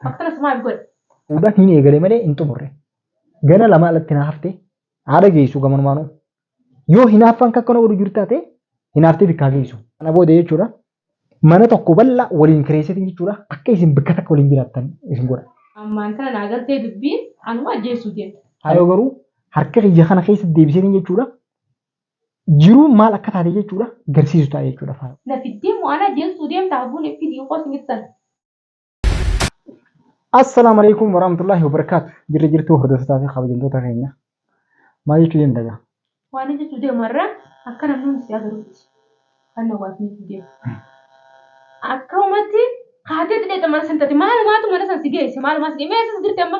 Akkasumas maaf godhe? Fuudhan hin eegale malee hin xumurre. Gana lama alatti na hafte haadha geessu gamanumaanuu. Yoo hinaaffaan akka na godhu jiru taate hinaaftee bikkaa geessu. Kana booda jechuudha mana tokko bal'aa waliin kireessitin jechuudha akka isin bikka takka waliin jiraattan isin godha. Ammaan tana naa galtee dubbiin anuma ajjeessuu deemta. Haayoo garuu harka kiyya kana keessa deebiseetiin jechuudha jiruun maal akka taate jechuudha garsiisu ta'a jechuudha faayoo. Na fiddee moo ana ajjeessuu deemta haguun fidii qoos mittan. Assalaamu alaikum warahmatullahi wabarakaatu. Jirri jirtuu hordoftotaa fi kabajamtoota keenya. Maal jechuu deemta gaa? Waan inni jechuu deemu irra akka namni hundi si agarutti kan nawwaatni jechuu deemu. Akka uumatti kaatee xixiqqee mana santati maalumaatu mana san si geesse maalumaa si geesse meeshaa jirti amma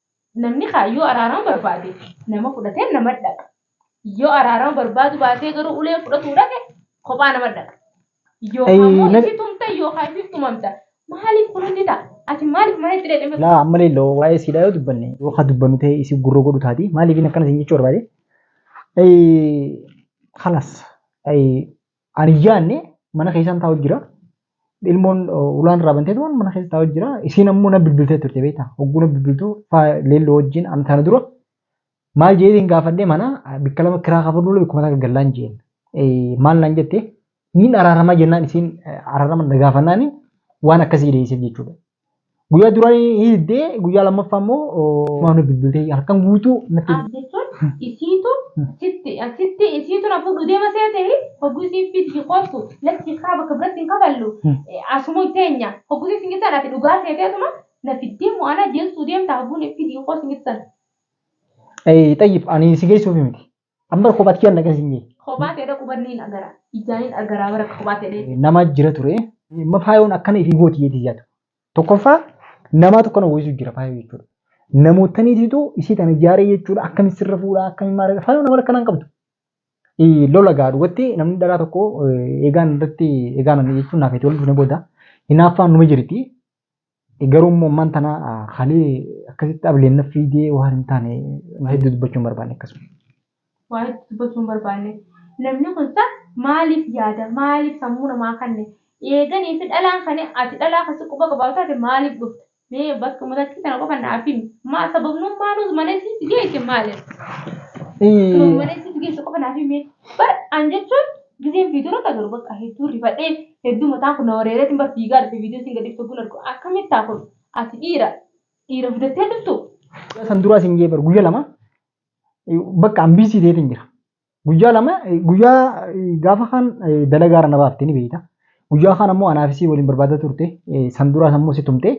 Namni kaayyoo araarama barbaade nama fudhatee nama dhaqa. Yoo araarama barbaadu baatee garuu uleen fudhatuu dhaqe kophaa nama dhaqa. Yookaan immoo Ayii, itti tumta yookaan itti tumamta. Maaliif kun hundi ta'a? Ati maaliif mana itti dheedhame? Laa ammalee loo waa'ee siidhaa yoo dubbanne yoo ka dubbannu ta'e isii gurra godhu taati maaliif inni akkana siin jechuu barbaade? Ayii, Halas ayii Ariyyaanne mana keessaan taa'u jira. Ilmoon ulaan irraa bantee tuman mana keessa taa'u jira. Isiin ammoo na bilbiltee turte beektaa. Hogguu na bilbiltu faa leelloo wajjin an tana dura maal jeetiin gaafadhee mana bikka lama kiraa kafaluu bikkuma takka gallaan jeen. Maal naan jette niin araaramaa jennaan isiin araarama na gaafannaani waan akkasii deebiseef jechuudha. Guyyaa duraa hiiddee guyyaa lammaffaa immoo waan nuuf bilbiltee halkan guutuu natti as jechuun isiitu sitti sitti isiitu na fuudhu deema seete hogguu isiin fiiddi koottu lakki kaa bakka biratti hin kafallu asuma teenya hogguu isiin gittan ati dhugaa seeteetuma na fiddee moo ana deessuu deemta hogguun fidii koo sin gittan. Xayyib ani si geessuuf miti. Amma kophaatti kiyya naqa sinye. Kophaa ta'e dhaquu badni hin agara. Ijaan hin agaraa bara kophaa ta'e. Nama jira ture. Amma faayoon akkana ifii gooti jeeti yaadu. Tokkoffaa namaa tokko nama wayisuu jira faayoo jechuudha. Namootaniitiitu isii tana ijaaree jechuudha akkamitti sirra fuudhaa akkamitti maal faayoo nama akkanaan qabdu. Lola gaa dhugatti namni dharaa tokko eegaan irratti eegaan jechuun naaf itti wal dhufne booda hinaaffaan numa jirti. Garuu immoo ammaan tana hali akkasitti ableen na fiidee waan hin taane waa hedduu dubbachuu hin barbaanne akkasuma. Waa hedduu dubbachuu hin barbaanne. Namni kun sa maaliif yaada maaliif sammuu namaa kanne eeganii fi dhalaan kane ati dhalaa kasi quba qabaatu taate maaliif dhufta mee bakka matakkii tana qofa naaf himi maa sababnuun maaluu malee sitti geesse maaliif? Sababni malee sitti geesse qofa naaf himi bar an jechuun Gizeen viidiyoo irratti agarru bakka hedduu rifadhee hedduu mataan kun na wareereetiin bar fiigaa dhufe viidiyoo siin gadhiiftu gun argu akkamitti taa kun ati dhiira dhiira fidattee dhuftu. Guyyaa san duraa siin jee bar guyyaa lama bakka an biisii ta'eetiin jira. Guyyaa lama guyyaa gaafa kaan dalagaara na baafte ni beekta. Guyyaa kaan ammoo anaa fi sii waliin barbaadaa turte san duraa ammoo si tumte.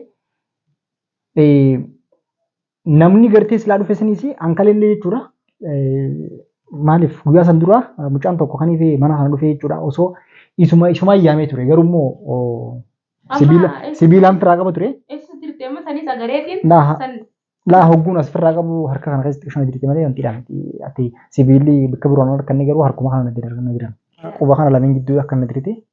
Namni gartee silaa dhufe saniis ankalellee jechuudha. Maaliif guyyaa san dura mucaan tokko kan ifee mana kana dhufee jechuudha osoo isuma isuma yaamee ture garuu immoo sibiila sibiilaan firaa qaba ture. Ibsu jirti amma sanis agareetiin Laa- san Laa hogguun as firraa qabu harka kana keessatti ishuma jirti malee wanti dhaan ati sibiilli bakka biroon harkanne garuu harkuma kana natti darganna jiran. Quba kana lameen gidduu akka natti jirti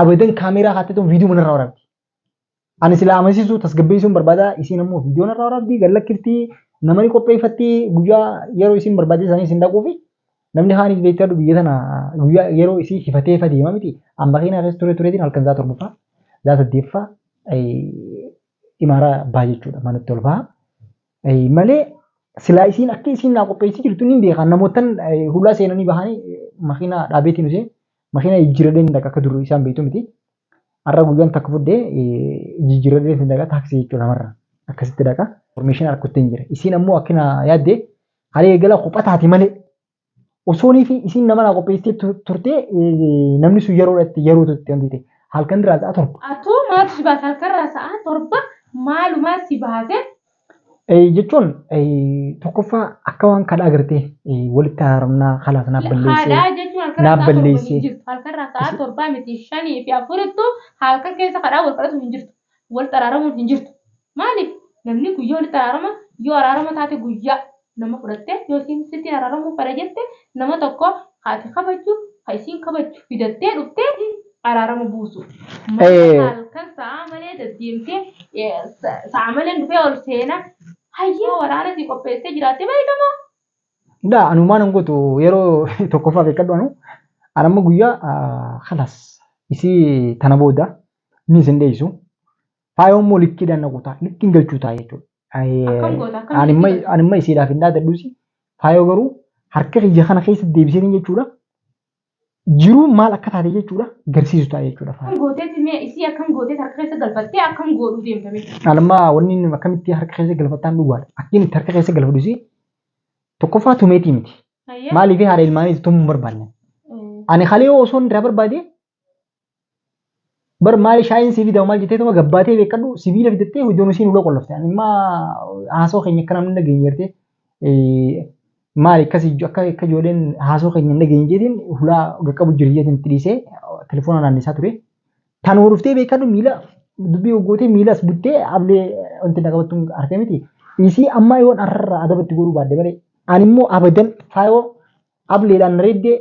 Abadan kaameeraa kaattee tun viidiyoo manarraa waraabdi. Ani silaa amansiisuu tasgabbeessuun barbaada isiin ammoo viidiyoo narraa waraabdi gallakkifti namani qopheeffatti guyyaa yeroo isiin barbaadee isaanii isin dhaquufi namni haanis beektaa du biyya tana guyyaa yeroo isii hifatee fa deema miti amma keenyaa keessa ture tureetiin halkan zaa torbaffaa zaa saddeeffaa imaaraa baa jechuudha manatti ol baha. Malee silaa isiin akka isiin naa qopheessii jirtu ni beekaa namootan hulaa seenanii bahanii makiinaa dhaabeetiin usee Makiina jijjiirradhee hin dhaqa akka durri isaan beektu miti. Har'a guyyaan takka fudde jijjiirradhee hin dhaqa taaksii jechuudha marra. Akkasitti dhaqa. Formeeshinii harkutti hin jira. Isiin ammoo akkina yaadde haala eegala kopha taate malee osoonii fi isiin nama naa qopheessitee tu- turtee eh, namni sun yeroodhatti yeroo turte wanti ta'e halkan irraa sa'a torba. Atoo maaltu si baasa halkan irraa sa'a torba maalumaa si baase jechuun tokkoffaa akka waan kadhaa gartee walitti haramnaa kalaas naaf balleessee Haadhaa jechuun halkan naaf rasaa torba hin balleessee jirtu. Halkan rasaa torbaa miti shanii fi afurittu halkan keessa kadhaa wal kadhatu hin jirtu. Wal xaraaramuun hin jirtu. Maaliif? Namni guyyaa walitti araarama yoo araarama taate guyyaa nama fudhatte yoo isiin sitti araramuu fedha jette nama tokko ka ati kabajju ka isiin kabajju fidattee dhuftee ati araarama buusu malee ka halkan sa'aa malee daddeemtee sa'aa maleen dhufee ol seena hayyee waraana sii qopheessee jiraatte beekama. Daa anumaan hin gootu yeroo tokkoffaa beekadhu anu anamma guyyaa kalas isii tana booda ni isin dheessu Faayoo immoo likkiidhaan na kutaa likkiin galchuu ta'a jechuudha. Akkam goota akkam Ani amma- likkii ani amma isiidhaaf hin dhaadadhuusi. Faayoo garuu harka kiyya kana keessa deebisanii jechuudha. Jiruun maal akka taate jechuudha garsiisu ta'a jechuudha akkam faayoo. gooteeti mee isii akkam gooteeti harka keessa galfattee akkam goodhuu deemta mee. Ani amma wanni inni akkamitti harka keessa galfattaan dhugaadha. Akkiin itti harka keessa galfadhuusi tokkoffaa tumeetii miti. Hayyee. Maaliif haadha ilmaaniitti tumuu hin barbaanne. Eh, Ani kalee osoo irraa barbaade bar maali shaayiin sii fidama maal jettee tuma gabbaatee beekadhu sibiila fidattee iddoon isiin uloo qollofte ani immaa haasoo keenya akka namni dhageenye jettee maali akkas akka akka ijoolleen haasoo keenya hin dhageenye jeetiin hulaa gaqqabu jira jeetiin itti dhiisee telefoona naannisaa ture tanuma dhuftee beekadhu miila dubbii hoggootee miilas buttee ablee wanti na qabattuun harkee miti isii ammaa yoon arrarraa adabatti godhuu baadde malee ani immoo abadan faayoo Ableedhaan reeddee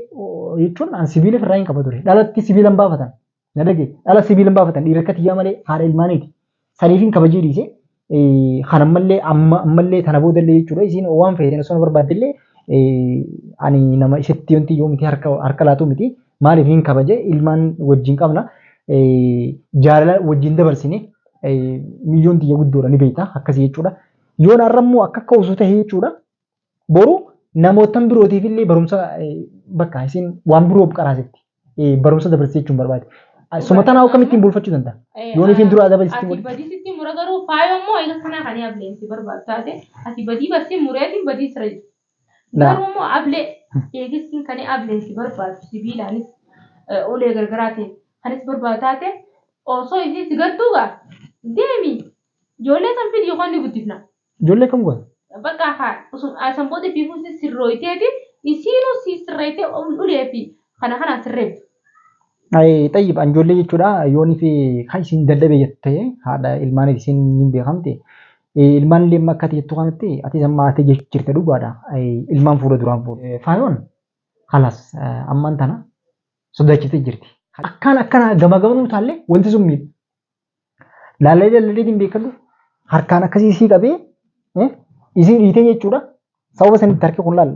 jechuun an sibiila firraa hin qaba ture. Dhalatti sibiila hin baafatan. Na dhagee dhala sibiila hin baafatan dhiira akka tiyyaa malee haadha ilmaaniiti. Saniif hin kabajee dhiise. Kan ammallee ammallee tana boodallee jechuudha. Isiin waan feeteen osoo na barbaaddellee ani nama isitti yoonti yoo miti harka laatu miti. Maaliif hin kabaje ilmaan wajjin qabna. Jaalala wajjin dabarsine miiliyoon tiyya guddoodha ni beekta akkasii jechuudha. Yoon har'ammoo akka akka osoo ta'e jechuudha. Boru namoottan birootiif illee barumsa bakka isin waan biroof qaraasifti. Barumsa dabarsite jechuun barbaade. Suma tanaa akkamittiin bulfachuu danda'a? Yoon ifiin dura adaba isitti Ati godhe. badii sitti mura garuu faayoo immoo eega kanaa kan ableen si barbaadu taate ati badii basi mureetiin badii sira jirti. Laa. Garuu immoo ablee eegissiin kan ableen si barbaadu sibiilaanis eh, ulee gargaraatiin kanis barbaadu taate osoo isiin si gartuu gaa deemi ijoollee san fidi yookaan ni guddifna. Ijoollee kam goota? Bakka haa osoo asan booda itti fuusi sirrooyteeti isiinuu si sirreeytee ulee fi kana kanaan sirreeytu. Ay xayyib an ijoollee jechuudha yoonii fi kan isin dadhabee jette haadha ilmaaniif isin hin beekamte ilmaan illee amma akkati jettu kanatti atis amma haatee jechu jirta dhugaadha ilmaan fuudha duraan fuudha. Faayoon halas ammaan tana sodaachifte jirti. Akkaan akkana gama gamanuu taallee wanti sun miidha. Laallee laallee hin beekadhu harkaan akkasii sii qabee isii dhiitee jechuudha. Sababa sanitti harki kun laal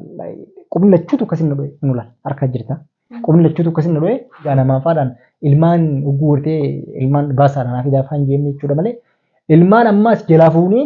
qubni lachuutu akkasii na dho'e nu laal harka jirta. Qubni lachuutu akkasii na dho'e yaa namaa faadhaan ilmaan ugguu gortee ilmaan baasaadhaan hafi daafaan jeemne jechuudha malee ilmaan ammaas jalaa fuunee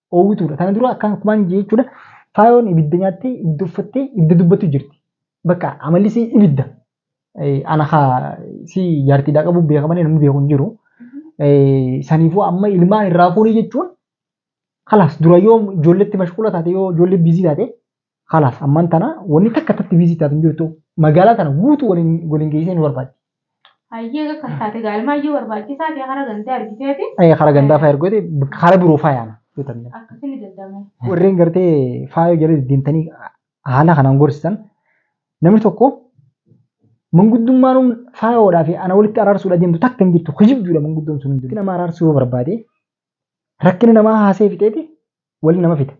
oowwituudha. Kana dura akkaan kumaan jechuudha. Faayoon ibidda nyaattee ibidda uffattee ibidda dubbattu jirti. Bakka amalli si ibidda. Ana haa si jaartiidhaa qabu beeka malee namni beeku hin jiru. Saniifuu amma ilmaan irraa fuunii jechuun kalaas dura yoo ijoolletti mashquula taate yoo ijoollee biizii taate Kalaas ammaan tana wanni takka tatti viizii taatu hin jirtu magaalaa tana guutuu waliin waliin geessee nu barbaaddi. Hayyee akka taate gaalmaa iyyuu barbaachisaa ta'e karaa gandaa argiteeti. Ee, Karaa gandaa fa'aa ergooti karaa biroo fa'aa yaana yoo ta'e. Akkasii ni danda'ama. Warreen gartee faayoo jala deemtanii haala kanaan gorsitan namni tokko manguddummaan faayoodhaa fi ana walitti araarsuudha deemtu takka hin jirtu kijibduudha manguddoon sun hundinuu. Nama araarsuu yoo barbaade Rakkina namaa haasee fixeeti waliin nama fita.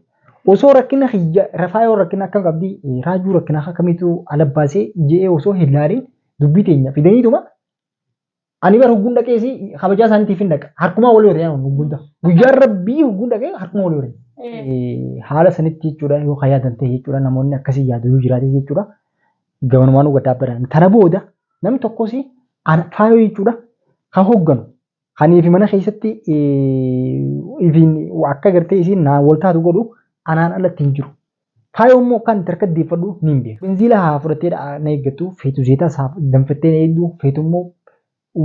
Osoo rakkina kiyya rafaa yoo rakkina akkam qabdi raajuu rakkina akkamitu ala baasee je'ee osoo hin laaliin dubbii teenya fidaniituma ani bar hugguun dhaqeesi kabajaa isaaniitiif hin dhaqa harkumaa walii horee ani hugguun ta'a. Guyyaan rabbii hugguun dhaqee harkumaa walii horee. Haala sanitti jechuudha yoo kan yaadan ta'e jechuudha namoonni akkasii yaadu yoo jiraate jechuudha gamanumaan gaddaa badan. Tana booda namni tokkos ana faayoo jechuudha kan hogganu Kanii fi mana keessatti ifiin akka gartee isiin naa wal taatu godhu anaan alatti hin jiru. Faayoo immoo kan itti harka deeffadhu ni hin beeku. Binziila haa fudhattee na eeggattu feetu zeetaa isaa danfattee na eegdu feetu immoo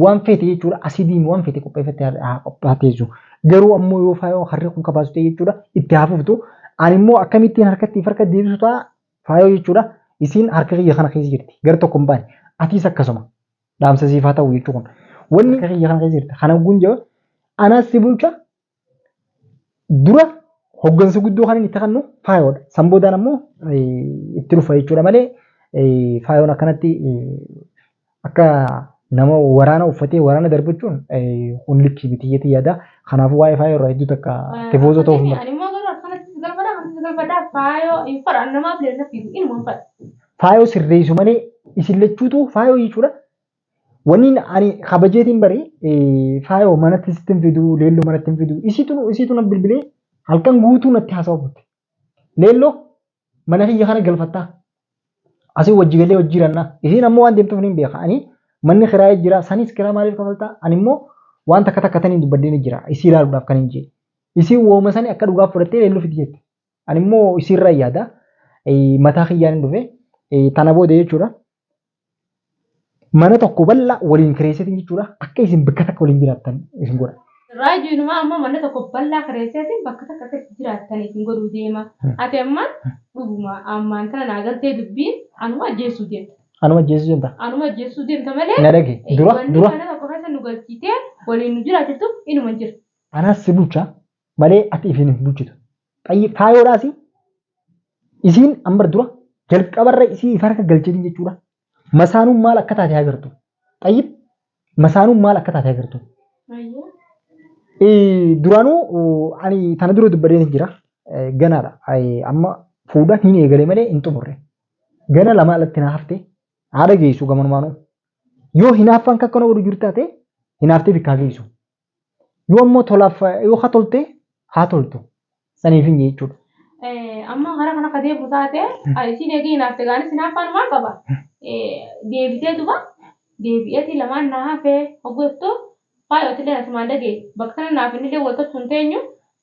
waan feete jechuudha asidiin waan feete qopheeffattee haa qophaatteessu. Garuu ammoo yoo faayoo harri kun kabaasu ta'e jechuudha itti haa fuftu. Ani immoo akkamittiin harkatti harka deebisu ta'a faayoo jechuudha isiin harka kiyya kana keessa jirti gara tokko hin baane atiis akkasuma. Dhaamsa siif haa ta'u jechuu kun. Wanni akka kiyya kana keessa jirta. Kana ogguun jaba anaas si bulcha dura hoggansa guddoo kan inni itti kannu faayoodha. San boodaan ammoo itti dhufa jechuudha malee faayoon akkanatti akka nama waraana uffatee waraana darbachuun kun likkii miti jeetii yaada. Kanaafuu waa'ee faayoo irraa hedduu takka tifoozoo ta'uuf hin Ani immoo garuu akkanatti si galfadha, akkanatti si galfadha. Faayoo hin fadha. Namaaf illee natti hin fadha. faayoo sirreessu malee isin lachuutu faayoo jechuudha. Wanni ani kabajeetiin bari faayoo manatti sitti hin fidu leelloo manatti hin fidu isitu isitu na bilbilee halkan guutuu natti haasawa turte. Leelloo mana kiyya kana galfattaa asii wajji galee wajji jirannaa isiin ammoo waan deemtuuf niin beeka ani manni kiraayee jira sanis kiraa maaliif kafaltaa ani immoo waan takka takka taniin dubbadheen jira isii ilaaluudhaaf kan hin jee isiin wooma sani akka dhugaaf fudhattee leelloo fidi jette. Ani immoo isiirra yaada mataa kiyyaan hin dhufe tana booda jechuudha. Mana tokko bal'aa waliin kireesseetiin jechuudha akka isin bakka takka waliin jiraattan isin godha. Raajuu inumaa amma mana tokko bal'aa kireesseetiin bakka takka akka itti jiraattan isin godhuu deema. Ati amma dhuguma ammaan tana naa galtee dubbiin anuma ajjeesuu deemta. Anuma ajjeesuu deemta. Anuma ajjeesuu deemta malee. Na dhage dura dura. Wanni mana tokko keessa nu galchiitee waliin nu jiraachiftu inuma jira. Anaas si bulcha malee ati ifiin hin bulchitu. Xayyib faayoodhaas isiin amma dura jalqabarra isii if harka galchanii jechuudha. Masaanuun maal akka taate agartu. Xayyib masaanuun maal akka taate agartu. Eh, Duraanuu uh, ani tana dura dubbadeen hin jira. Eh, Ganaadha. Eh, Amma fuudhan hin eegale malee hin xumurre. Gana lama alatti naa hafte haadha geessu gamanumaanuu. Yoo hinaaffaan akka akkana godhu jiru taate hinaaftee bikkaa geessu. Yoo ammoo tolaaf yoo ka tolte haa toltu. Saniif hin jechuudha. Amma hara kana ka deebi'u taate isiin eegee hinaafte gaanis hinaaffaan maal qaba? Deebitee duba deebi'eetii lamaan naa hafee hogguu jettu faayootillee asumaan dhagee bakka kana naaf innillee wal tolchuun teenyu